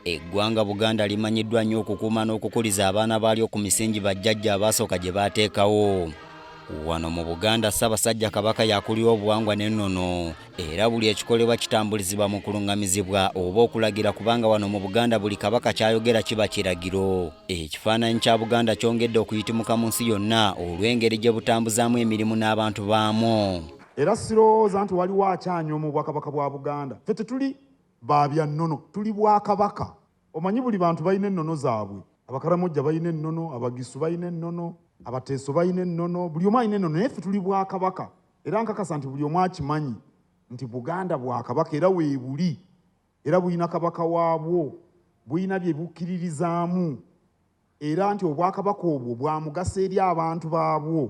Eggwanga Buganda limanyiddwa nnyo okukuuma n'okukuliza abaana baalyo ku misingi bajjajja abaasooka gye baateekawo. Wano mu Buganda Ssaabasajja Kabaka yakulira obuwangwa n'ennono era buli ekikolebwa kitambulizibwa mu kulungamizibwa oba okulagira kubanga wano mu Buganda buli Kabaka ky'ayogera kiba kiragiro. Ekifaananyi kya Buganda kyongedde okuyitimuka mu nsi yonna olw'engeri gye butambuzaamu emirimu n'abantu baamu. Era sirowooza nti waliwo akyanyooma obwakabaka bwa Buganda. Ffe tetuli ba bya nnono, tuli Bwakabaka. Omanyi buli bantu balina ennono zaabwe. Abakaramojja balina ennono, Abagisu balina ennono, Abateeso balina ennono, buli omu alina ennono naye ffe tuli Bwakabaka era nkakasa nti buli omu akimanyi nti Buganda Bwakabaka era weebuli era bulina Kabaka waabwo, bulina bye bukkiririzaamu era nti Obwakabaka obwo bwa mugaso eri abantu baabwo.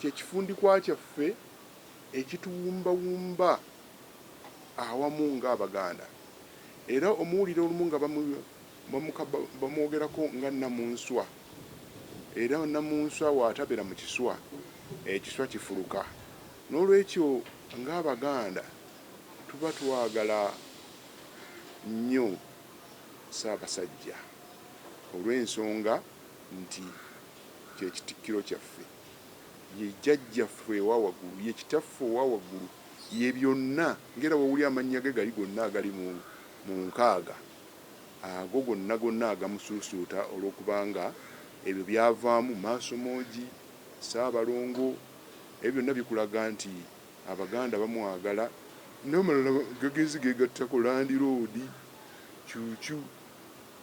kye kifundikwa kyaffe ekituwumbawumba awamu ng'Abaganda era omuwulira olumu nga bamwogerako nga Nnamunswa era Nnamunswa w'atabera mu kiswa, ekiswa kifuluka. N'olwekyo ng'Abaganda tuba twagala nnyo Ssaabasajja olw'ensonga nti. kye kitikkiro kyaffe, ye jjajja ffe ewa waggulu, ye kitaffe owa waggulu, ye byonna, ngera wewuli amannya ge gali gonna agali mu mu nkaaga ago gonna gonna agamusuusuuta olwokubanga ebyo byavaamu, Maasomoogi, Ssaabalongo, ebyo byonna bikulaga nti Abaganda bamwagala, namalala gagenze gegattako Landiroodi, Cuucu,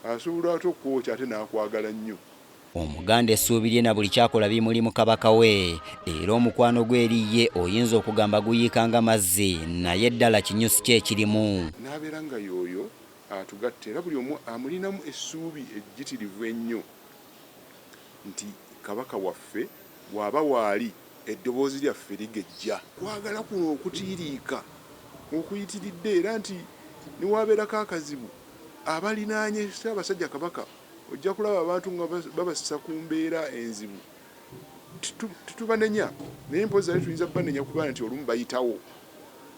asobola ate okukwokya ate nakwagala nnyo. Omuganda essuubi lye na buli kyakola bimuli mu Kabaka we era omukwano gwe eri ye oyinza okugamba guyiika nga mazzi naye ddala kinyusi ki ekirimu? N'abeera nga y'oyo atugatta era buli omu amulinamu essuubi ejjitirivu ennyo nti Kabaka waffe bw'aba waali eddoboozi lyaffe ligejja. Kwagala kuno okutiiriika okuyitiridde era nti ne wabeerako akazibu abalinaanye Ssaabasajja Kabaka Ojja kulaba abantu nga babassa ku mbeera enzibu. Tetubanenya naye mpozzi ate tuyinza kubanenya kuba nti olumu bayitawo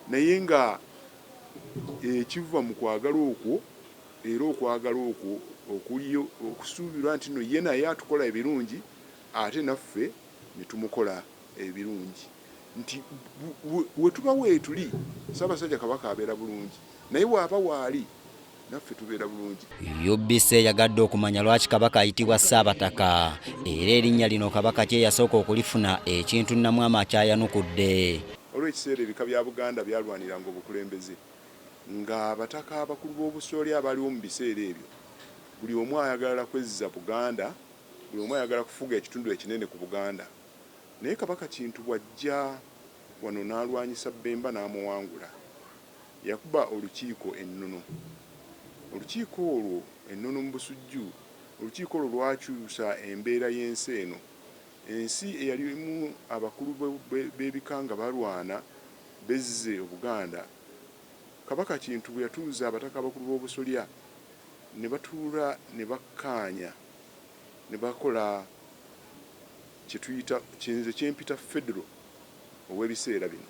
naye nga ekiva mu kwagala okwo era okwagala okwo okuliyo okusuubirwa nti no ye naye atukola ebirungi ate naffe ne tumukola. ebirungi nti wetuba wetuli Ssabasajja Kabaka abeera bulungi naye waaba waali naffe tubeera bulungi. UBC eyagadde okumanya lwaki Kabaka ayitibwa Ssaabataka era erinnya lino Kabaka ki eyasooka okulifuna ekintu Namwama akyayanukudde. Waliwo ekiseera ebika bya Buganda byalwaniranga obukulembeze nga abataka abakulu b'obusolya abaaliwo mu biseera ebyo buli omu ayagalala kwezza Buganda, buli omu ayagala kufuga ekitundu ekinene ku Buganda. Naye Kabaka Kintu bw'ajja wano n'alwanyisa Bbemba n'amuwangula, yakuba olukiiko e Nnono. Olukiiko olwo e Nnono mu Busujju, olukiiko olwo lwakyusa embeera y'ensi eno. Ensi eyalimu abakulu b'ebika nga balwana bezze Obuganda, Kabaka Kintu bwe yatuuza Abataka Abakulu b'Obusolya ne batuula ne bakkaanya ne bakola kye tuyita kye nze kye mpita Federo ow'ebiseera bino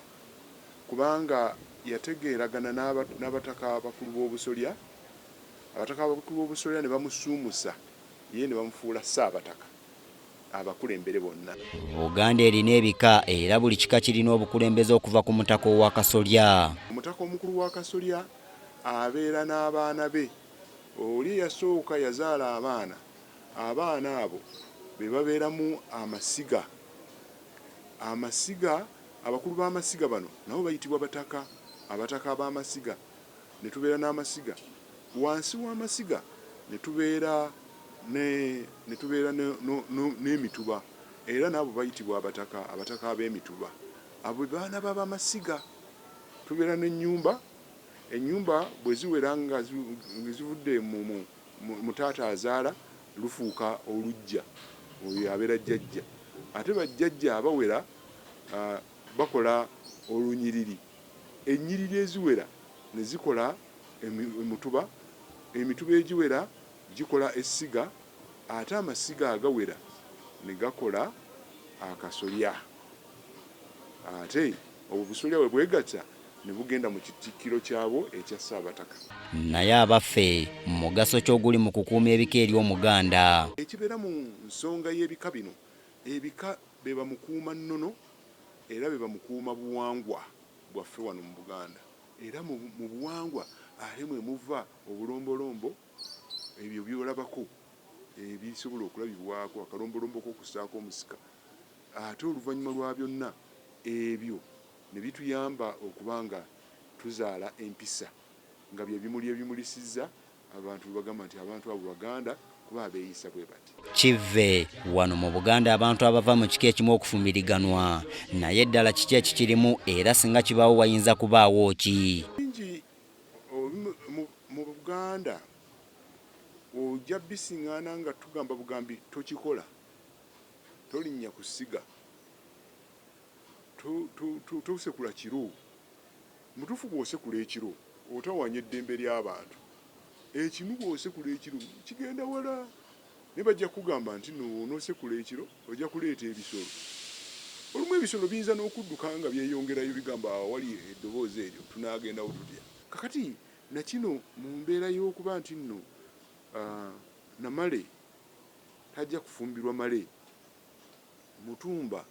kubanga yategeeragana n'aba n'Abataka Abakulu b'Obusolya, Abataka Abakulu b'Obusolya ne bamusuumusa ye ne bamufuula Ssaabataka abakulembere bonna. Buganda erina ebika era buli kika kirina obukulembeze okuva ku Mutaka Ow'akasolya. Omutaka Omukulu w'Akasolya abeera n'abaana be. Oli eyasooka yazaala abaana, abaana abo be babeeramu amasiga. Amasiga, abakulu b'amasiga bano nabo bayitibwa bataka, abataka ab'amasiga, ne tubeera n'amasiga. Wansi w'amasiga ne tubeera ne, ne tubeera ne, no, no, n'emituba, era n'abo bayitibwa abataka, abataka ab'emituba. Abo be baana b'abamasiga. Tubeera n'ennyumba. Ennyumba bwe ziwera nga zivudde mu taata azaala lufuuka oluggya, oyo y'abeera jjajja. Ate bajjajja abawera bakola olunyiriri, ennyiriri eziwera ne zikola emutuba, emituba egiwera. Gikola essiga ate amasiga agawera ne gakola akasolya. Ate obwo busolya bwe bwegatta ne bugenda mu kitikkiro kyabwo ekya Ssaabataka. Naye abaffe mugaso ki oguli mu kukuuma ebika eri Omuganda? Ekibeera mu nsonga y'ebika bino, ebika be bamukuuma nnono era be bamukuuma buwangwa bwaffe wano mu Buganda era mu buwangwa are mwe muva obulombolombo, Ebyo by'olabako ebisobola okulabibwako akalombolombo k'okussaako omusika, ate oluvannyuma lwa byonna ebyo ne bituyamba okuba nga tuzaala empisa, nga bye bimuli ebimulisizza abantu bwe bagamba nti abantu abo Baganda kuba abeeyisa bwe bati. Kivve wano mu Buganda abantu abava mu kika ekimu okufumbiriganwa, naye ddala kiki ekikirimu era singa kibaawo wayinza kubaawo ki? Mu Buganda ojja bising'aana nga tugamba bugambi tokikola, tolinnya ku ssiga, tosekula kiro. Mu butuufu bw'osekula ekiro otawaanya eddembe ly'abantu. Ekinu bw'osekula ekiro kigenda wala naye bajja kukugamba nti nno bw'onoosekula ekiro Ojja kuleeta ebisolo. Olumu ebisolo biyinza n'okudduka nga byeyongerayo, bigamba, Awo awali eddoboozi eryo tunaagendawo tutya? Kaakati, na kino, mu mbeera y'okuba nti nno, a, na male tajja kufumbirwa male, mutumba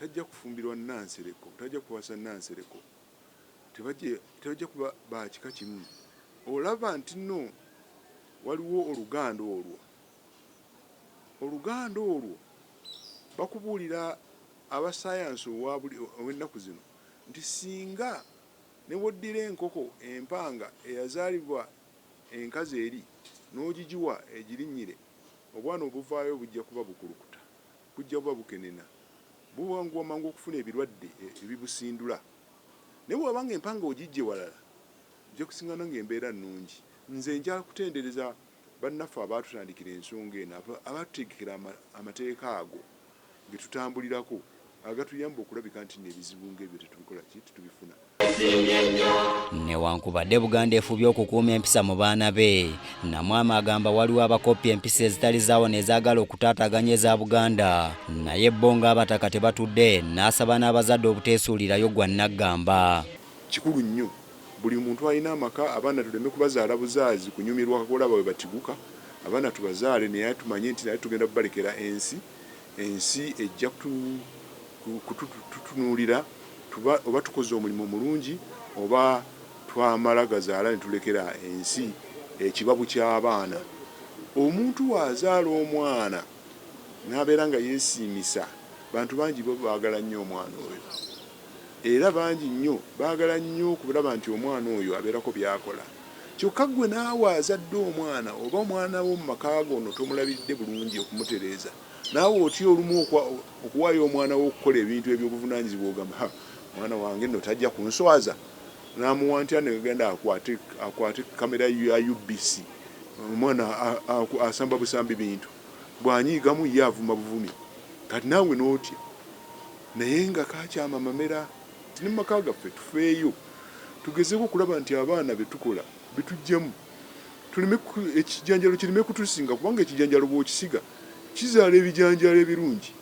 tajja kufumbirwa Nnansereko, tajja kuwasa Nnansereko, tebajja, tebajja kuba ba kika kimu. Olaba nti nno waliwo oluganda olwo. Oluganda olwo bakubuulira abassaayansi ow'ennaku zino nti singa ne bw'oddira enkoko empanga eyazaalibwa enkazi eri n'ogigiwa egirinnyire, obwana obuvaayo bujja kuba bukulukuta, bujja kuba bukenena, buwanguwa mangu okufuna ebirwadde ebibusindula. Naye bw'oba ng'empanga ogiggye walala, ojja kusisinkana ng'embeera nnungi. Nze njala kutendereza Bannaffe abaatutandikira ensonga eno abaatutegekera amateeka ago ge tutambulirako agatuyamba okulabika nti nno ebizibu ng'ebyo tetubikola ki? tetubifuna. Newankubadde Buganda efubye okukuuma empisa mu baana be, Namwama agamba waliwo abakoppya empisa ezitali zaawo nezaagala okutaataaganya eza Buganda naye bo ng'abataka tebatudde n'asaba n'abazadde obuteesuulirayo gwa nnaggamba. Kikulu nnyo Buli muntu alina amaka abaana tuleme kubazaala buzaazi kunyumirwa olaba bwebatiguka abaana tubazaale naye tumanye nti nate tugenda kubalekera ensi ensi ejja kututunuulira tuba oba tukoze omulimu omulungi oba twamala gazaala netulekera ensi ekibabu ky'abaana omuntu bwazaala omwana nabeera nga yesiimisa bantu bangi baagala nnyo omwana oyo. era bangi nnyo baagala nnyo okulaba nti omwana oyo abeerako by'akola kyokka ggwe naawe azadde omwana oba omwana wo mu maka go ono tomulabiridde bulungi okumutereeza naawe otya olumu okuwaayo omwana wo okukola ebintu eby'obuvunaanyizibwa ogamba ha mwana wange nno tajja kunswaza naamuwa ntya negenda akwate akwate kamera ya UBC omwana asamba busambi bintu bw'anyiigamu ye avuma buvumi kati naawe n'otya Naye nga kaakyama Mamera nti ne mu maka gaffe tufeeyo tugezeeko okulaba nti abaana be tukola bituggyamu tuleme ekijanjaalo kireme kutusinga kubanga ekijanjaalo bw'okisiga kizaala ebijanjaalo ebirungi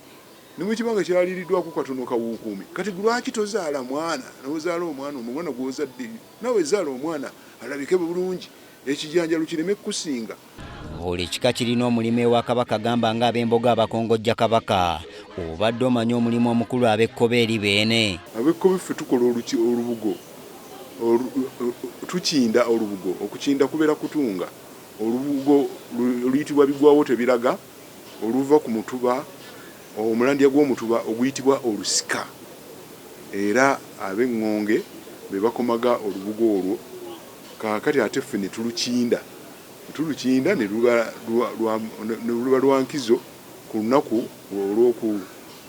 ne bwe kiba nga kyaliiriddwako katono kawuukuumi. Kati lwaki tozaala mwana n'ozaala omwana omwana gw'ozadde naawe zaala omwana alabike bulungi ekijanjaalo kireme kukusinga. Buli kika kirina omulimu ewa Kabaka gamba nga ab'embogo abakongojja Kabaka. Obadde omanyi omulimu omukulu ab'ekkobe eri Beene? Ab'ekkobe ffe tukola olubugo, tukinda olubugo. Okukinda kubeera kutunga olubugo oluyitibwa bigwawotebiraga oluva ku mutuba Omulandiya gw'omutuba oguyitibwa olusika era ab'eŋŋonge be bakomaga olubugo olwo kaakati ate ffe ne tulukinda. Olutu Lukinda ne luba lwa nkizo ku lunaku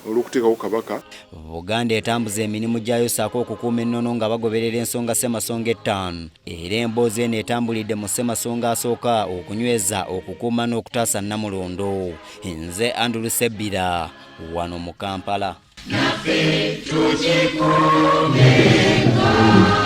olw'okuteekawo Kabaka. Buganda etambuza emirimu gyayo ssaako okukuuma ennono nga bagoberera ensonga Ssemasonga ettaano era emboozi eno etambulidde mu Ssemasonga asooka okunyweza, okukuuma n'okutaasa Nnamulondo. Nze Andrew Ssebbira wano mu Kampala. Naffe tukikuumenga.